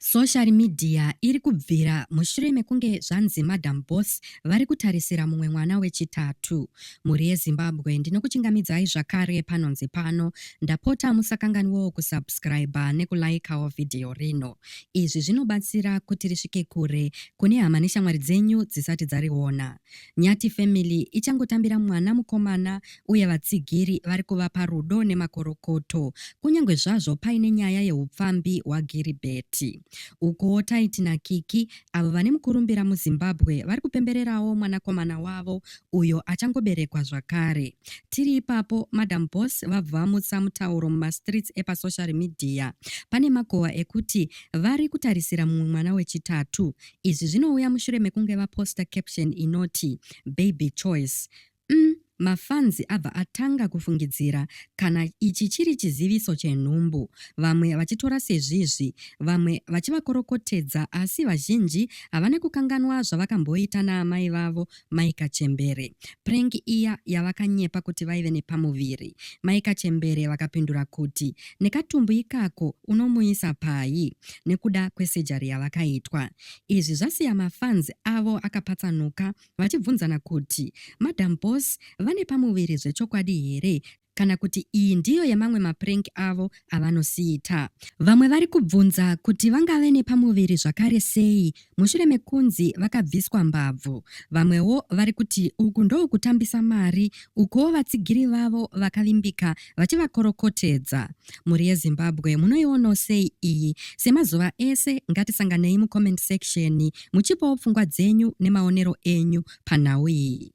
Social media iri kubvira mushure mekunge zvanzi Madam Boss vari kutarisira mumwe mwana wechitatu. Mhuri yeZimbabwe ndinokuchingamidzai zvakare panonzi pano. Ndapota musakanganwewo kusubscriber nekulaikawo vhidhiyo rino. Izvi zvinobatsira kuti risvike kure kune hama neshamwari dzenyu dzisati dzariona. Nyati Family ichangotambira mwana mukomana uye vatsigiri vari kuvapa rudo nemakorokoto kunyange zvazvo paine nyaya yeupfambi hwagiribheti ukuwo taiti nakiki avo vane mukurumbira muzimbabwe vari kupembererawo mwanakomana wavo uyo achangoberekwa zvakare tiri ipapo madam bos vabva vamutsa mutauro mumastreets epasocial media pane makowa ekuti vari kutarisira mumwe mwana wechitatu izvi zvinouya mushure mekunge vaposta caption inoti baby choice Umm mafans abva atanga kufungidzira kana ichi chiri chiziviso chenhumbu vamwe vachitora sezvizvi vamwe vachivakorokotedza asi vazhinji havane kukanganwa zvavakamboita naamai vavo mai kachembere prank iya yavakanyepa kuti vaive nepamuviri mai kachembere vakapindura kuti nekatumbu ikako unomuisa pai nekuda kwesejari yavakaitwa izvi zvasiya mafans avo akapatsanuka vachibvunzana kuti madam boss vane pamuviri zvechokwadi here kana kuti iyi ndiyo yemamwe maprank avo avanosiita. Vamwe vari kubvunza kuti vangave nepamuviri zvakare sei mushure mekunzi vakabviswa mbabvu. Vamwewo vari kuti uku ndokutambisa mari ukuwo vatsigiri vavo vakavimbika vachivakorokotedza. mhuri yezimbabwe munoionawo sei iyi semazuva ese ngatisanganei mucomment section muchipawo pfungwa dzenyu nemaonero enyu panhau iyi